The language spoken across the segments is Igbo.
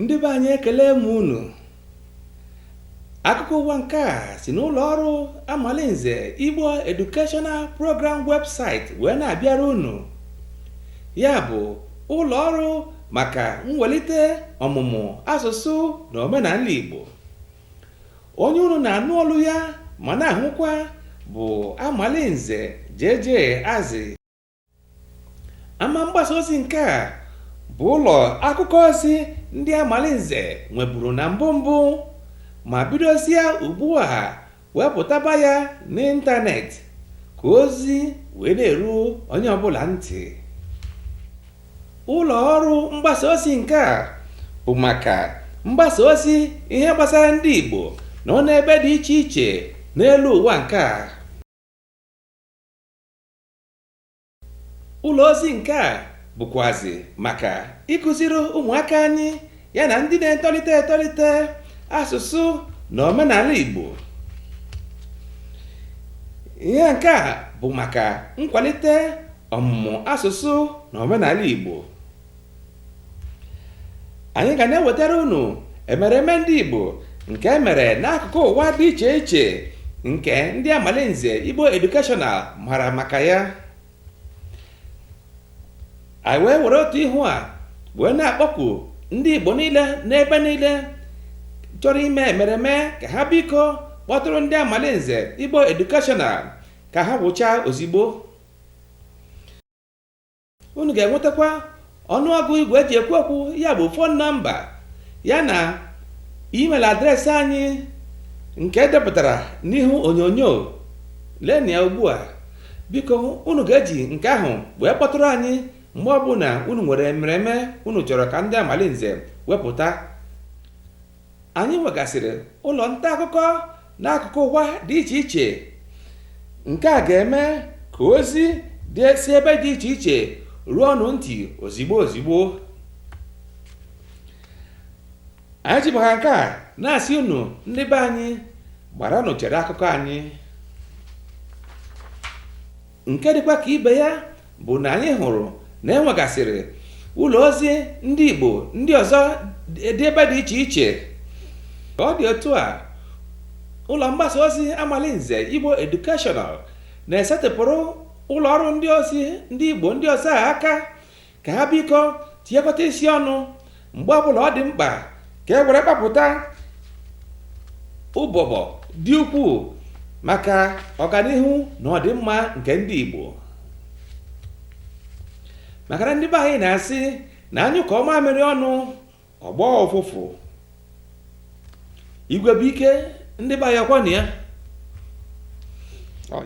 ndị be anyị ekele m unu akụkọ ụwa nke a si n'ụlọ ọrụ amalinze igbo educational program website wee na-abịara unu ya bụ ụlọ ọrụ maka mwelite ọmụmụ asụsụ na omenala igbo onye unu na-anụ olu ya ma na-ahụkwa bụ amalinze JJ azị ama mgbasa ozi nke a bụ ụlọ akụkọ ozi ndị amalinze nweburu na mbụ mbụ ma bidozie ugbu a wepụtaba ya n'ịntanetị ka ozi wee na-eru onye ọbụla ntị ụlọ ọrụ mgbasa ozi nke a bụ maka mgbasa ozi ihe gbasara ndị Igbo nọ n'ebe dị iche iche n'elu ụwa nke a ụlọ ozi nke a bụkwazi maka ịkụziri ụmụaka anyị ya na ndị na-etolite etolite asụsụ na omenala Igbo ihe nke a bụ maka nkwalite ọmụmụ asụsụ na omenala Igbo anyị ga na-ewetara unu emereme ndị igbo nke e mere n'akụkụ ụwa dị iche iche nke ndị amalinze igbo educational mara maka ya anyị wee were otu ihu a wee na-akpọku ndị igbo niile n'ebe niile chọrọ ime emereme ka ha biko kpọtụrụ ndị amalinze igbo educational ka ha wụchaa ozigbo unu ga-enwetakwa ọnụọgụ igwe e ji ekwu okwu ya bụ phone number ya na email address anyị nke e depụtara n'ihu onyonyo leni ya ugbu a biko unu ga-eji nke ahụ wee kpọtụrụ anyị mgbe ọbụla unu nwere emereme unu chọrọ ka ndị amalinze wepụta anyị nwegasịrị ụlọ nta akụkọ n'akụkụ ụwa dị iche iche nke a ga-eme ka ozi si ebe dị iche iche ruo unu ntị ozigbo ozigbo anyị ji maka nke a na-asị unu ndị be anyị gbaranụ chere akụkọ anyị nke dịkwa ka ibe ya bụ na anyị hụrụ na e nwegasịrị ụlọ ozi ndị Igbo ndị ọzọ dị ebe dị iche iche ka ọ dị otu a ụlọ mgbasa ozi Amalinze Igbo Educational na-esetịpụrụ ụlọ ọrụ ndị ozi ndị Igbo ndị ọzọ aka ka ha biko tinyekọta isi ọnụ mgbe ọbụla ọ dị mkpa ka e were kpapụta ụbụbọ dị ukwuu maka ọganihu na ọdịmma nke ndị Igbo maka na ndị be anyị na-asị na a nyụkọọ mamịrị ọnụ ọ gbọọ ụfụfụ igwe bụ ike ndị be anyị ọ kwanụ ya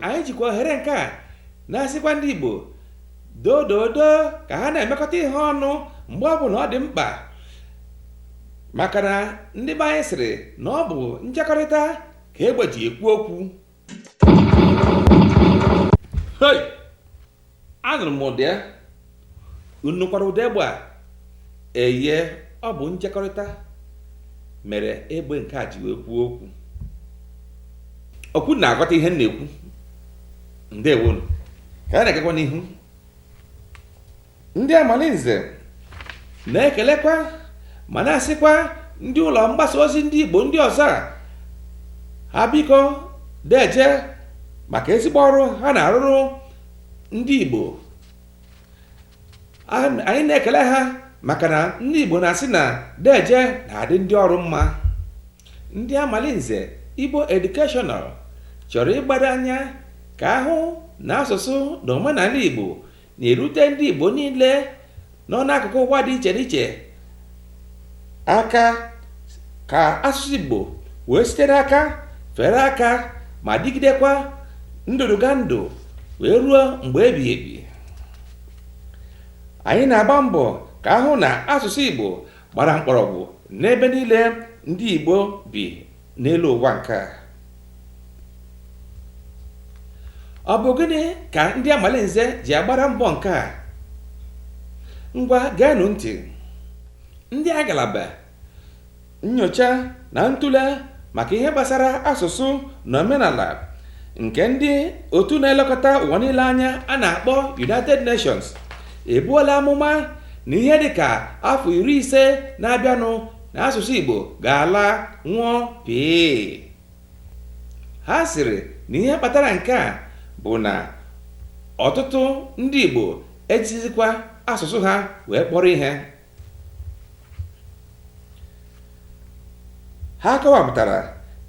anyị jikwa ohere nke a na-asịkwa ndị igbo doo doo doo ka ha na-emekọta ihe ọnụ mgbe ọ bụna ọ dị mkpa maka na ndị be anyị sịrị na ọ bụ nchekọrịta ka egbe ji ekwu okwu Hey! anụrụ m ụda ya unu nụkwara ụda egbe a eye ọ bụ njekọrịta mere egbe nke a ji wee kwuo okwu ọ kwa unu na-aghọta ihe m na-ekwu ndewonụ ka a na-agakwa n'ihu ndị amalinze na-ekelekwa ma na-asịkwa ndị ụlọ mgbasa ozi ndị igbo ndị ọzọ a ha biko deje maka ezigbo ọrụ ha na-arụrụ ndị igbo anyị na-ekele ha maka na ndị igbo na-asị na deje na-adị ndị ọrụ mma ndị amalinze igbo educational chọrọ ịgbado anya ka a hụ na asụsụ na omenala igbo na-erute ndị Igbo niile nọ n'akụkụ ụwa dị iche n'iche aka ka asụsụ Igbo wee sitere aka fere aka ma dịgidekwa ndụdụgandụ wee ruo mgbe ebighị ebi anyị na-agba mbọ ka a hụ na asụsụ Igbo gbara mkpọrọgwụ n'ebe niile ndị Igbo bi n'elu ụwa nke a ọ bụ gịnị ka ndị amalinze ji agbara mbọ nke a ngwa geenụ ntị ndị agalaba nyocha na ntụle maka ihe gbasara asụsụ na omenala nke ndị otu na-elekọta ụwa niile anya a na-akpọ United Nations ebuola amụma na ihe dịka afọ iri ise na-abịanụ na asụsụ Igbo ga-ala nwụọ pịị ha sịrị na ihe kpatara nke a bụ na ọtụtụ ndị Igbo ejighizikwa asụsụ ha wee kpọrọ ihe ha kọwapụtara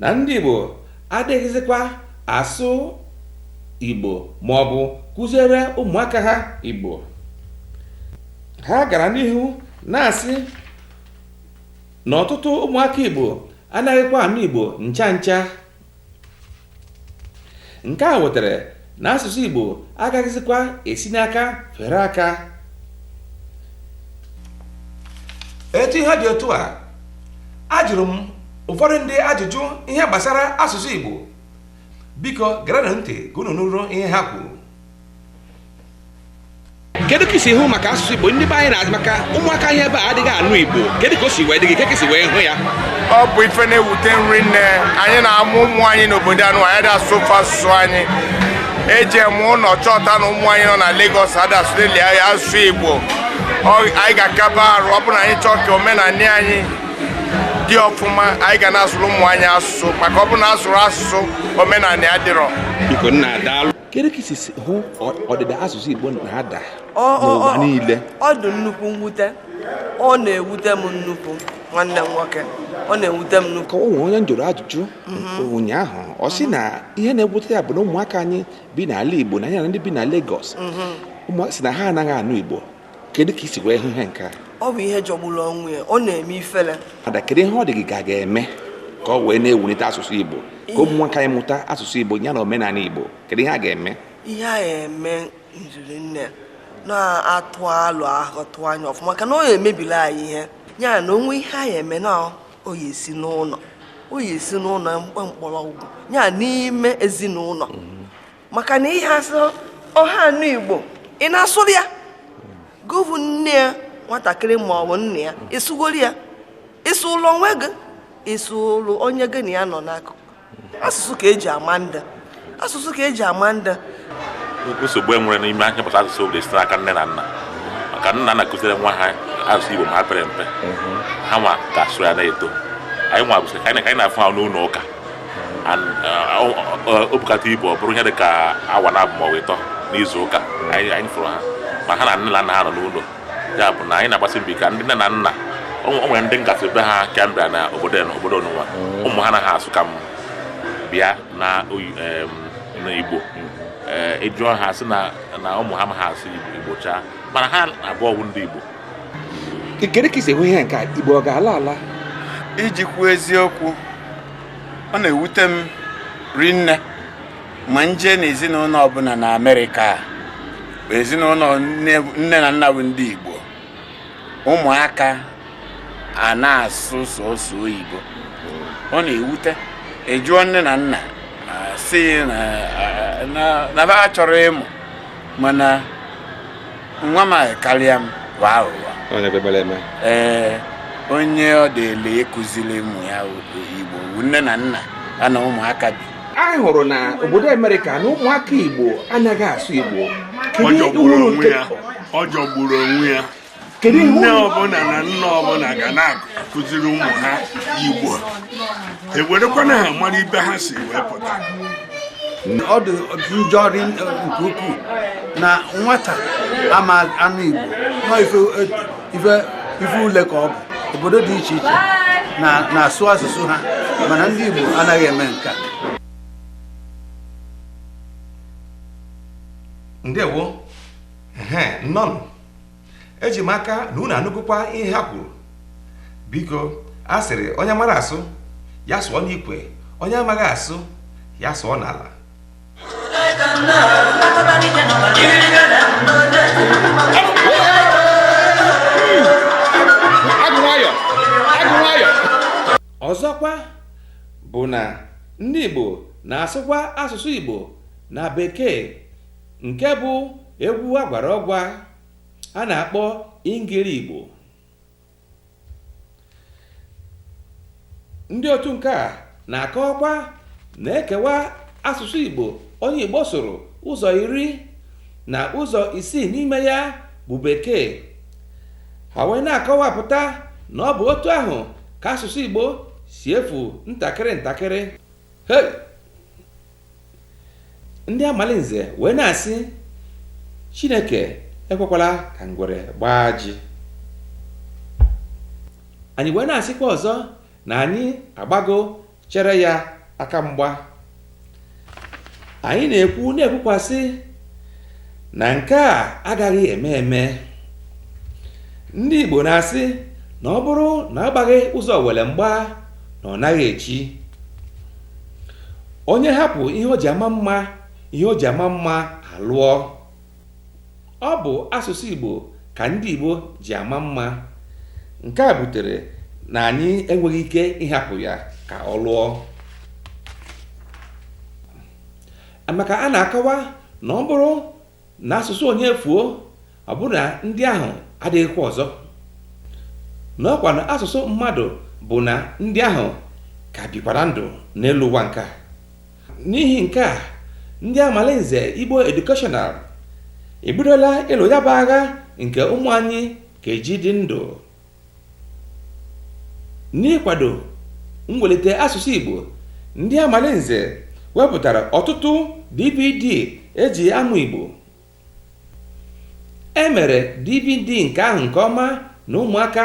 na ndị Igbo adịghịzikwa asụ Igbo ma ọ bụ kụziere ụmụaka ha Igbo ha gara n'ihu na-asị na ọtụtụ ụmụaka Igbo anaghịkwa anụ Igbo ncha ncha nke a wetara na asụsụ Igbo agaghịzikwa esi n'aka fere aka etu ihe dị otu a ajụrụ m ụfọdụ ndị ajụjụ ihe gbasara asụsụ Igbo biko gerenụ ntị ka unu nụrụ ihe ha kwuru kedu ka i si hụ maka asụsụ igbo ndị be anyị na-asụ maka ụmụaka anyị ebe a adịghị anụ igbo kedu ka o si wee dị gị ka ka i si wee hụ ya ọ bụ ife na-ewute m rinne anyị na-amụ ụmụ anyị n'obodo anụ anyị dị asụ ofe asụsụ anyị e jeme ụlọ chọta na ụmụ anyị nọ na Lagos adasụleli anyị asụsụ Igbo Ọ- anyị ga-akaba arụ ọ bụrụ na anyị chọọ ka omenanị anyị dị ọfụma anyị ga na-asụrụ ụmụ anyị asụsụ maka ọ bụrụ na asụrọ asụsụ omenanị adịrọ biko nna daalụ kedu ka i si hụ ọdịda asụsụ Igbo na-ada n'ụwa niile ọ dị nnukwu mwute ọ na-ewute m nnukwu nwanne m nwoke ọ na-ewute m nnukwu o nwe onye m jụrụ ajụjụ mhm. ụnyaahụ ọ sị na ihe na-ewute ya bụ na ụmụaka anyị bi n'ala Igbo na ya na ndị bi na Lagos mhm. ụmụaka sị na ha anaghị anụ Igbo kedu ka i si wee hụ ihe nke a ọ bụ ihe jọgburu onwe ya ọ na-eme ifele ada kedu ihe ọ dị gị ka a ga-eme ka ọ wee na-ewulite asụsụ igbo ka ụmụaka anyị mụta asụsụ igbo ya na omenala igbo kedu ihe a ga-eme ihe a ga-eme njiri nne na-atụ alụ ahụ tụọ anya ọfụma maka na ọ na-emebili anyị ihe ya na o nwe ihe a ya-eme na ọ ya-esi n'ụlọ ọ ya-esi n'ụlọ mkpọrọgwụ ya n'ime ezinụlọ mm. maka na ihe a sị ọ ha anụ igbo ị na-asụrụ ya gị vụ nne ya nwatakịrị ma ọ bụ nne ya ị sụgoro ya ị sụọrọ onwe gị ị sụọrọ onye gị na ya nọ n'akụkụ asụsụ ka eji ama ndị asụsụ ka eji ama ndị nsogbu e nwere n'ime ihe gbasara asụsụ obodo sitere n'aka nne na nna maka nne na nna kụziere nwa ha asụsụ igbo ma ha pere mpe ha nwa ga-asụ ya na-eto anyị nwa bụsị ka anyị na-afụ ha n'ụlọ ụka o bukata ibu ọ bụrụ ihe dị ka awa naabọ ma ọ bụ ịtọ n'izu ụka anyị fụrụ ha ma ha na nne na nna ha nọ n'ụlọ ya bụ na anyị na-agbasi mbọ ka ndị nne na nna o nwere ndị m gasị be ha ka m bịara na obodo na obodo nunwa ụmụ ha anaghị asụ ka m bịa na igbo ị jụọ ha sị na ụmụ ha amaha asụ igbo chaa mana ha naabọ bụ ndị igbo kedu ka i si hụ ihe nke igbo ọ ga-ala ala iji kwuo eziokwu ọ na-ewute m rinne ma m jee na ezinụlọ ọbụla na amerịka ezinụlọ nne na nna bụ ndị igbo ụmụaka a na-asụ sọsọ oyibo ọ na-ewute e jụọ nne na nna sị na ha achọrọ ịmụ mana nwa m anyị karịa m bụ aghụghọ onye kpekpere eme ee onye ọ dịịrị ịkụziri ụmụ ya igbo wu nne na nna ya na ụmụaka bi anyị hụrụ na obodo amerịka na ụmụaka igbo anaghị asụ igbo Kedu ihe ọ jọgburu uru onwe nke- ya ọ jọgburu onwe ya Kedu ihe nne uru- ọbụla na nna ọbụla ga na-akụziri ụmụ ha igbo ewerekwana ha mara ibe ha si wee pụta ọ dị njọ ri nke ukwuu na nwata ama anụ igbo nọ ife ife ifele ka ọ bụ obodo dị iche iche na- na-asụ asụsụ ha mana ndị igbo anaghị eme nke a ndewo ehe nnọnụ eji m aka na unu anụgokwa ihe ha kwuru biko a sịrị onye mara asụ ya sụọ n'ikwe onye amaghị asụ ya sụọ n'ala ọzọkwa bụ na ndị Igbo na-asụkwa asụsụ Igbo na bekee nke bụ egwu agwara ọgwa a na-akpọ ingiri igbo ndị otu nke a na-akọwakwa na e kewaa asụsụ igbo onye igbo sụrụ ụzọ iri na ụzọ isii n'ime ya bụ bekee ha wee na-akọwapụta na ọ bụ otu ahụ ka asụsụ igbo si efu ntakịrị ntakịrị ndị amalinze wee na-asị chineke ekwekwala ka ngwere gbaa ajị anyị wee na-asịkwa ọzọ na anyị agbago chere ya aka mgba anyị na-ekwu na-ekwukwasị na nke a agaghị eme eme ndị Igbo na-asị na ọ bụrụ na agbaghị ụzọ owere mgba na ọ naghị echi onye hapụ ihe o ji ama mma ihe o ji ama mma alụọ ọ bụ asụsụ Igbo ka ndị Igbo ji ama mma nke a butere na anyị enweghị ike ịhapụ ya ka ọ lụọ maka a na-akọwa na ọ bụrụ na asụsụ onye fuo ọ bụrụ na ndị ahụ adịghịkwa ọzọ na ọkwa na asụsụ mmadụ bụ na ndị ahụ ka bikwara ndụ n'elu ụwa nke a n'ihi nke a ndị amalinze igbo educational ebidola ịlụ ya bụ agha nke ụmụ anyị ka eji dị ndụ n'ịkwado mwelite asụsụ Igbo ndị Amalinze wepụtara ọtụtụ DVD eji amụ Igbo e mere DVD nke ahụ nke ọma na ụmụaka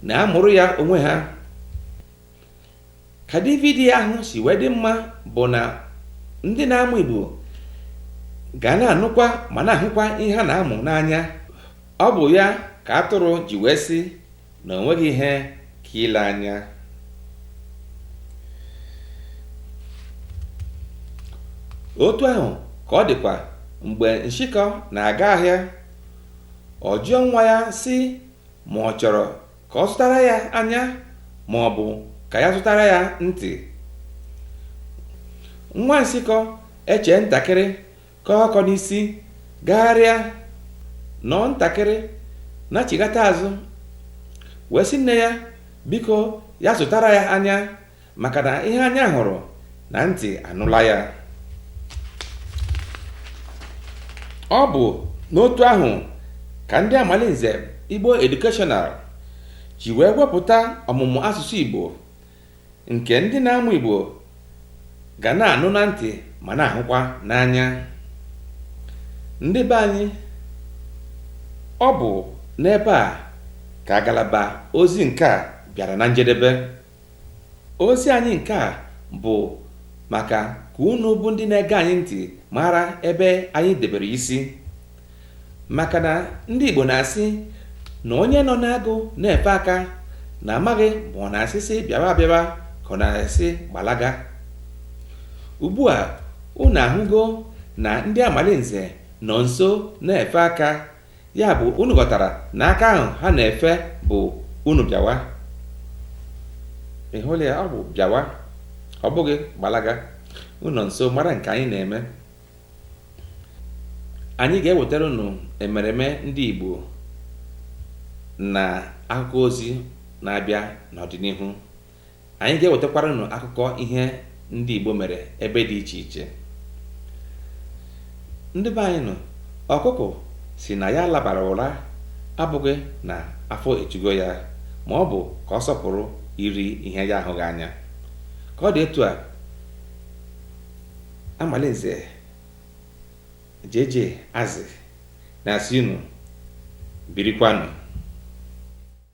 na-amụrụ ya onwe ha ka dvd ahụ si wee dị mma bụ na ndị na-amụ Igbo ga na-anụkwa ma na-ahụkwa ihe a na-amụ n'anya ọ bụ ya ka atụrụ ji wee sị na o nweghị ihe ka ile anya otu ahụ ka ọ dịkwa mgbe nshịkọ na-aga ahịa ọ jụọ nwa ya sị ma ọ chọrọ ka ọ zụtara ya anya ma ọ bụ ka ya zụtara ya ntị nwa nshịkọ echee ntakịrị kọọ ọkọ n'isi gagharịa nọọ ntakịrị nachigata azụ wee sị nne ya biko ya zụtara ya anya maka na ihe anya hụrụ na ntị anụla ya ọ bụ n'otu ahụ ka ndị amalinze igbo educational ji wee wepụta ọmụmụ asụsụ igbo nke ndị na-amụ igbo ga na-anụ na ntị ma na-ahụkwa n'anya ndị be anyị ọ bụ n'ebe a ka agalaba ozi nke a bịara na njedebe Ozi anyị nke a bụ maka ka unu bụ ndị na-ege anyị ntị mara ebe anyị debere isi maka na ndị Igbo na-asị na onye nọ n'agụ na-efe aka na a maghị ma ọ na-asị sị bịawa abịawa ka ọ na-asị gbalaga ugbu a unu ahụgo na ndị amalinze nọ nso na-efe aka ya bụ unu ghọtara na aka ahụ ha na-efe bụ unu bịawa ị hụla ya ọ bụ bịawa ọ bụghị gbalaga unu nọ nso mara nke anyị na-eme anyị ga-ewetara unu emereme ndị Igbo na akụkọ ozi na-abịa n'ọdịnihu anyị ga-ewetakwara unu akụkọ ihe ndị Igbo mere ebe dị iche iche ndị be anyị na ọkụkụ sị na ya labara ụra abụghị na afọ ejugo ya ma ọ bụ ka ọ sọpụrụ iri ihe ya ahụghị anya ka ọ dị etu a amalinze jeje azị na-asị unu birikwanụ